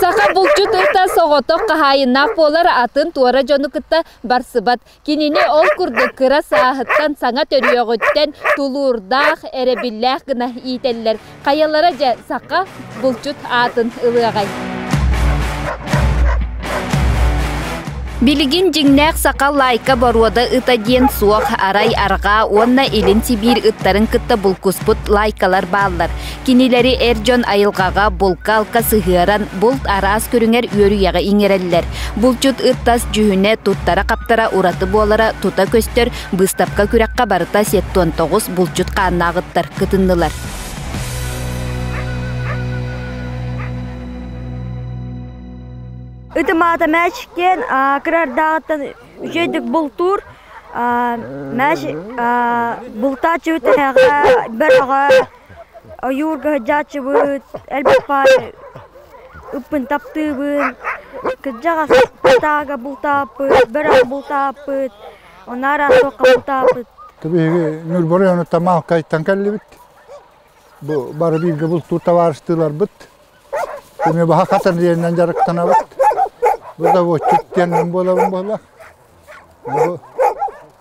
Саха булчут ырта соҕотох хаһаайыннаах буолар атын туора дьону кытта барсыбат. Кинини ол курдук кыра сааһыттан саҥа төрүөҕүттэн тулуурдаах, эрэбиллээх гына иитэллэр. Хайалара дьэ саха булчут аатын ылыаҕай? Билигин дьиҥнээх саха лайка боруода ыта диэн суох, арай арҕаа уонна Илин Сибиир ыттарын кытта булкуспут лайкалар бааллар. Кинилэри эр дьон айылҕаҕа, булка-алка сыһыаран, булт араас көрүҥэр үөрүйэҕи иҥэрэллэр. Булчут ыртас дьүһүнэ, туттара-хаптара ураты буолара тута көстөр быыстапка-күрэххэ барыта сеппион тоҕус булчут хааннааҕыттар кытыннылар. Ытым аата мәч киэн кырардаҕыттан үчэйдик бултуур мәч бултааччы бөрэҕэ ойуурга сыдьааччыбыт, элбэх баай ыппын таптыыбын. Кырдьаҕас пытаага бултааппыт, бөрөх бултааппыт, онно араас туохха бултааппыт. Биһиги Ньурба оройуонуттан Маалкайтан кэллибит. Бу бары бииргэ бултуур табаарыстыыларбыт. Эмиэ баһа Хатырдиэнинэн дьарыктанабыт. Бу заводчик диэн мин буолабын буолла. Бу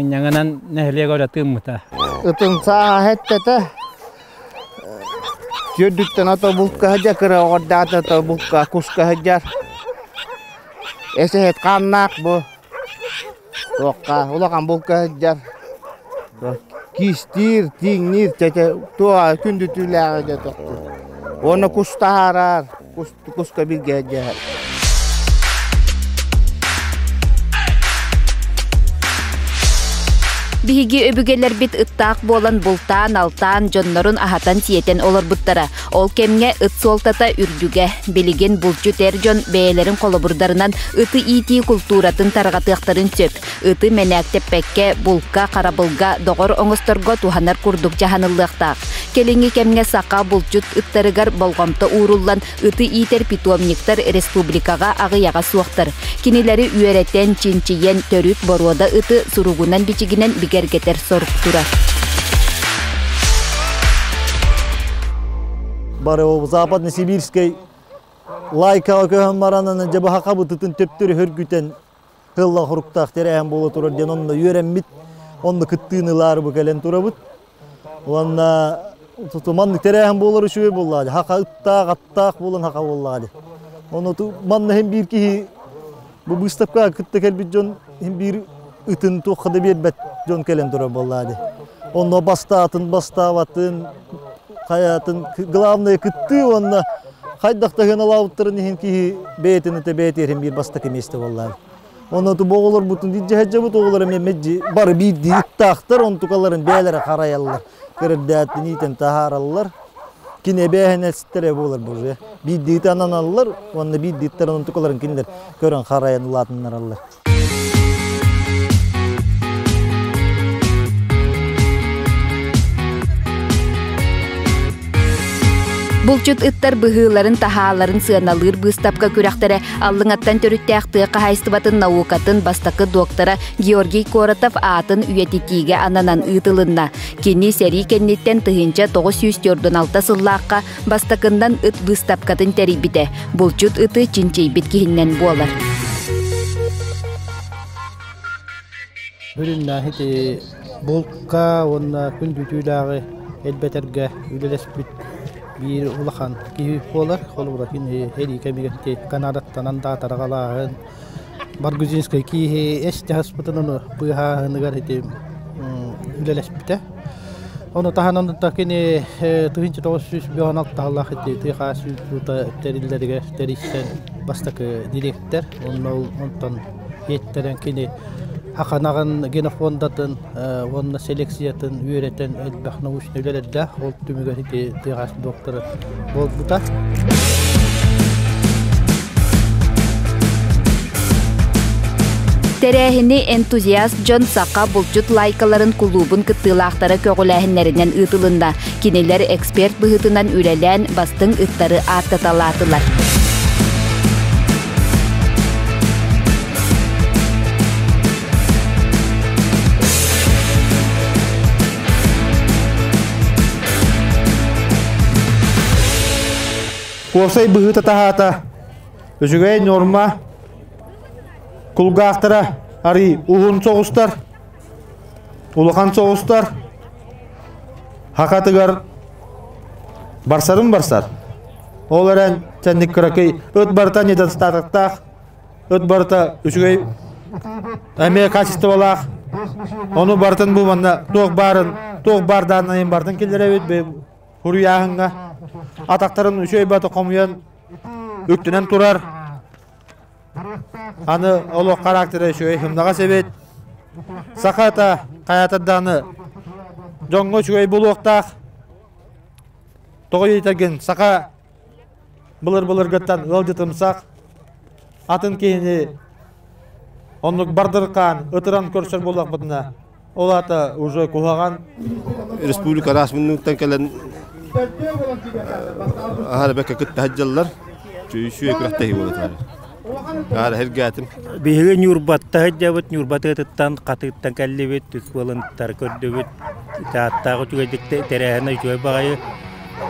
Инньэҥинэн нэһилиэк өрө тыыммыта. Ытымсааһа эттэтэ Түөрдүктэн ото булка сыдьа кыра оҕордаата то булка куска сыдьар. Эсэһит хааннаах бу. Туохха улахан булка сыдьар. Кистиир, тииҥниир чэчэ туоҕа күндүтүүлээҕи дьэ тохтуур. Уонна кус таһаараар. Тукуска билгээдьэ Биһиги өбүгэлэрбит ыттаах буолан бултаан, алтаан, дьоннорун аһатан-сиэтэн олорбуттара. Ол кэмҥэ ыт суолтата үрдүгэ. Билигин булчут эр дьон бэйэлэрин холобурдарынан ыты иитии култууратын тарҕатыахтарын сөп. Ыты мэнээктэппэккэ, булка, харабылга, доҕор оҥосторго туһанар курдук дьаһаныллыахтаах. Кэлиҥҥи кэмҥэ саха булчут ыттарыгар болҕомто ууруллан, ыты иитэр питомниктар республикаҕа аҕыйаҕа суохтар. Кинилэри үөрэтэн, чинчийэн, төрүт боруода ыты суругунан-бичигинэн бигэргэтэр сорук турар. бары Западно-Сибирскай лайкаҕа көһөн баранын дьабаха бытытын төптөрү хөргүтэн Тыллах уруктаах тэрээһин буола турар диэн онно үөрэммит, онно кыттыыны ылаары бу кэлэн турабыт. Уонна маннык тэрээһин буолар үчүгэй буоллаҕа, хаха ыттаах, аттаах буолан хаха буоллаҕа. Ону манна хин биир киһи бу быыстапкаҕа кытта кэлбит дьон хин биир ытын туохха да биэрбэт дьон кэлэн турар буоллаҕа. Онно бастаатын бастаабатын хайаатын главное кыттыы уонна хайдах да сыаналаабыттарын иһин киһи бэйэтин этэ бэйэ тиэрин биир бастакы миэстэ буоллаан онно оҕолорбутун илдьэ сылдьабыт оҕолор эмиэ мэджи бары биирдии ыттаахтар онтукаларын бэйэлэрэ харайаллар кырырдааттын иитэн таһаараллар кини эбээһинэстэрэ буолар бу уже биирдии ытананаллар уонна биирдии ыттарын онтукаларын кинилэр көрөн харайан улаатыннараллар Булчут ыттар быһыыларын таһааларын сыаналыыр быыстапка күрэхтэрэ Аллыҥаттан төрүттээх тыа хаһаайыстыбатын наукатын бастакы доктора Георгий Коротов аатын үйэтитиигэ ананан ыытылынна. Кини сэрии кэнниттэн тыһыынча тоҕус сүүс сыллаахха Бастакыннан ыт быыстапкатын тэрийбитэ. Булчут ыты чинчийбит киһиннэн буолар. Бүрүннээһи ити булка уонна күн бүтүүлээҕи элбэтэргэ үлэлэспит биир улахан киһи буолар. Холобура кини эрии кэмигэр Канадаттанан даатараҕалааһын Баргузинскай кииһи эс-дьаһаспытын ону быыһааһыныгар ити үлэлэспитэ. Ону таһынан да кини тыһыынча тоҕус сүүс бион алтаалаах ити тыа сүүс уута тэриллэригэр тэрийсэн бастакы дириэктэр. Онно онтон иэттэрэн кини Хаханаҕын генофондатын уонна селекциятын үөрэтэн элбэх научнай үлэлэрдээх ол түмүгэр ити тыаҕас доктора буолбута. Тэрээһини энтузиаст дьон саха булчут лайкаларын кулуубун кыттыылаахтара көҕүлээһиннэринэн ыытылынна. Кинилэр эксперт быһыытынан үлэлээн бастыҥ ыттары ааттаталаатылар. Куосай быһыыта таһаата, үчүгэй норма, кулгаахтара арый уһун соҕустар, улахан соҕустар, хакатыгар барсарын барсар. Ол эрэн, чэнник кыракый ыт барыта недостатыктаах Ыт барыта үчүгэй эмиэ качестволаах. Ону барытын бу манна туох баарын, туох баардаан айын бартын киллэрэбит хуруйааһыҥҥа. Атахтарын үчүгэй баты хомуйан үктэнэн турар. Аны олох характера үчүгэй хымнаҕа сэбит. Сахата хайатардааны дьоҥҥо үчүгэй булуохтаах. Тоҕо дийтэргин саха Былыр-былыргыттан ыалдьытымсах атын киһини оннук бардырҕаан ытыран көрсөр буоллахпытына, ол аата уже куһаҕан. Республика араас муннуктан кэлэн аһара бэккэ кытта садьдьаллар. Үсүө күрэхтэһии буола Биһиги Ньурбатта сылдьабыт, Ньурбата ытыттан, Хатыыттан кэллибит, ыскуолынтары көрдүбүт. Тааттаах үчүгэйдик тэрээһинэ үчүгэй баҕайы.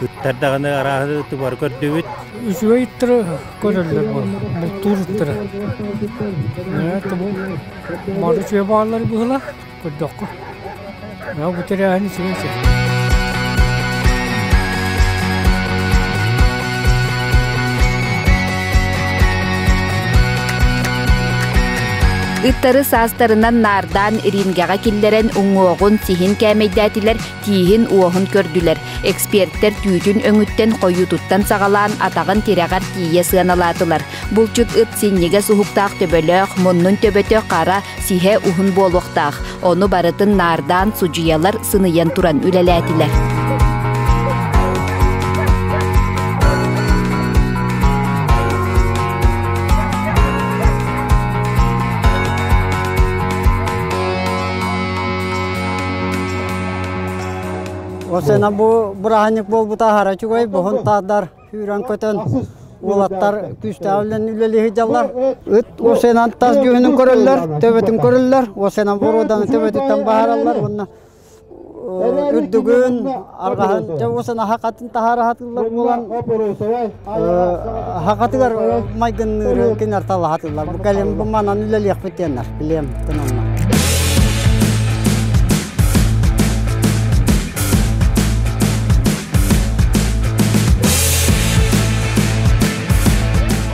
Ыттар даҕаны арааһы ытыбары көрдүбүт. Үчүгэй ыттары көрөллөр бултуур ыттара. Бары үчүгэй бааллар быһыла. көрдөххө мынау бу тэрээһини сирин сирин ыттары саастарынан наардаан рингэҕэ киллэрэн уҥуоҕун сиһин кээмэйдээтилэр тииһин-уоһун көрдүлэр. Экспертэр түүтүн өҥүттэн хойуутуттан саҕалаан атаҕын тирэҕэр тиийэ сыаналаатылар. Булчут ыт синньигэ суһуктаах төбөлөөх, муннун төбөтө хара, сиһэ уһун буолуохтаах. Ону барытын наардаан судьуйалар сыныйан туран үлэлээтилэр. Осена бу бырааһынньык буолбута аһара үчүгэй, боһун таардар, сүүрэн көтөн, уолаттар күүстээх үлэлии сылдьаллар. Ыт осенан тас дьүһүнүн көрөллөр, төбөтүн көрөллөр, осена боруоданы төбөтүттэн баһараллар уонна үрдүгүн, арҕаһын, осена хатын таһаара сатыыллар буолан Хакатыгар майгынныырын кинилэр талаһатылар. Бу кэлим бу манан үлэлиэхпит диэннэр билиэм кынылла.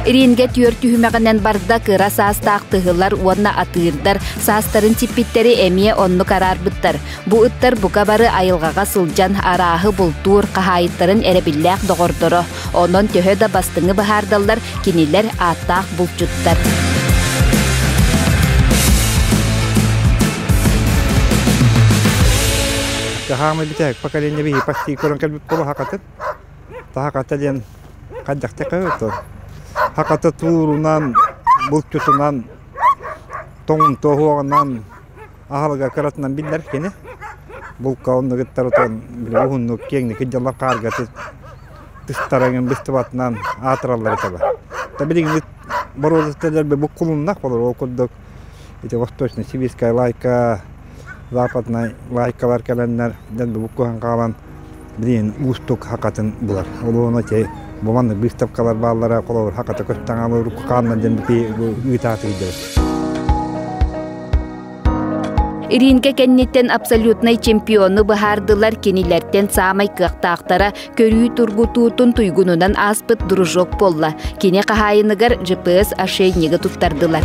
Ирингэ түөрт түһүмэҕинэн барда кыра саастаах тыһылар уонна атыырдар саастарын сиппиттэри эмиэ оннук араарбыттар. Бу ыттар бука бары айылҕаҕа сылдьан арааһы бултуур, хаһаайыттарын эрэбиллээх доҕордоро. Онон төһө да бастыҥы быһаардаллар, кинилэр ааттаах булчуттар. Хаһаамы битэ поколение биһи почти көрөн кэлбит болу хакатыт. Тахаката диэн хаддахтака то. Хаката туурунан, булчутунан, тоҥ тоһуағынан аһылыга кыратынан биллэр кини булка оннугуттарытын били уһуннук киэҥник дьаллан хааргатыт тыстарыҥын быстыбатынан аатыраллар этебэ та билигин боруодатталарбы буккулуннах болор ол курдук ити восточная сибирская лайка западнай лайкалар кэлэннэр дэн бу буккуһан хаалан Блин, уустук хакатын булар. Ол уону ити буманнык быыстапкалар бааллара, холобур, хаката көттөҥ алыр, кукаанна дэн бити ыытаатыйдыбыт. Иринка кэнниттэн абсолютнай чемпиону быһаардылар, кинилэртэн саамай кыахтаахтара көрүү тургутуутун туйгунунан ааспыт дружок буолла. Кини хаһаайыныгар GPS ошейнига туттардылар.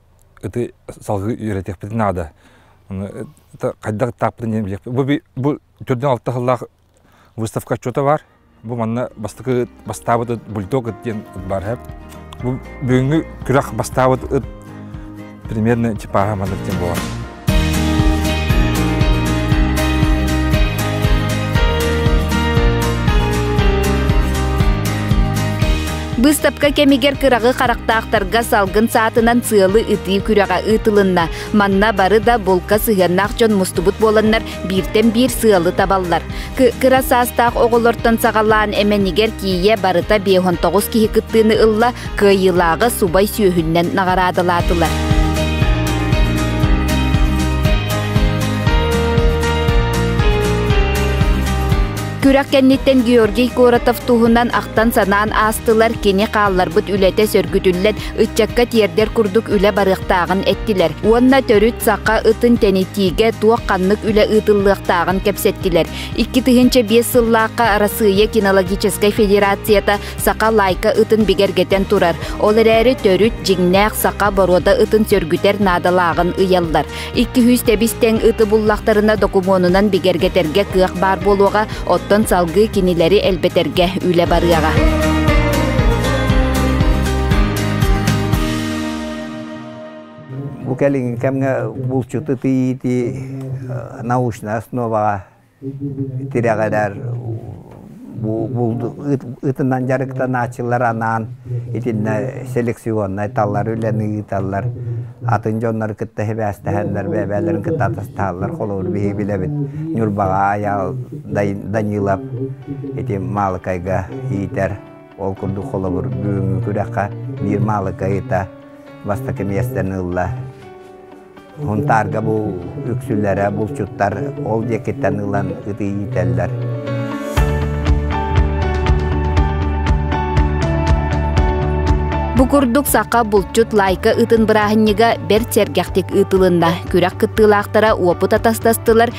Ити салгыы үөрэтиэхпитин наада. Хайдах тааппытын диэн билиэхпит. Бу төрдүн алта сыллаах выставка отчуота баар. Бу манна бастакы бастаабыт ыт бульдог ыт диэн ыт баар иһэр. Бу бүгүҥҥү күрэх бастаабыт ыт примерно типаһа маннык диэн буолар. Быыстапка кэмигэр кыраҕы харахтаахтарга салгын саатынан сыалы ытыы күрэҕэ ыытылынна. Манна бары да булка сыһыаннаах дьон мустубут буоланнар, Бииртэн биир сыалы табаллар. Кыра саастаах оҕолортон саҕалаан эмэнигэр тиийэ барыта биэһон тоҕус киһи кыттыыны ылла, кыайыылааҕы субай сүөһүннэн наҕараадалаатылар. Күрэх кэнниттэн Георгий Коротов туһунан ахтан-санаан аастылар, кини хаалларбыт үлэтэ сөргүтүллэн, Ыччакка тиэрдэр курдук үлэ барыахтааҕын эттилэр уонна төрүт саха ытын тэнитиигэ туох-ханнык үлэ ыытыллыахтааҕын кэпсэттилэр. Икки тыһыынча биэс сыллаахха Арассыыйа кинологическай федерацията саха лайка ытын бигэргэтэн турар. Ол эрээри төрүт дьиҥнээх саха боруода ытын сөргүтэр наадалааҕын ыйаллар. Икки-үһүс тэбис-тэҥ ыты буллахтарына докумуонунан бигэргэтэргэ кыах баар буолуоҕа, оттон салгыы кинилэри элбэтэргэ үлэ барыаҕа. Бу кэлин кэмҥэ булчут ытыйыыти научнай основаҕа тирэҕирэр ытынан дьарыктанааччылар анаан итиннэ селекционнай талар үлэни ыыталлар атын дьоннору кытта сибээстэһэннэр бэйбээлэрин кытта атастаһаллар холобур биһиги билэбит ньурбаҕа Айаал Данилов ити Маалыкайга иитэр Ол курдук холобур, бүгүҥҥү күрэххэ биир Маалыка ыйыта бастакы миэстэни ылла. Хунтаарга бу үксүлэрэ булчуттар ол диэкиттэн ылан ытыы иитэллэр. Бу курдук саха булчут лайка ытын бырааһынньыга бэрт сэргэхтик ыытылынна. Күрэх кыттыылаахтара уопут атастастылар,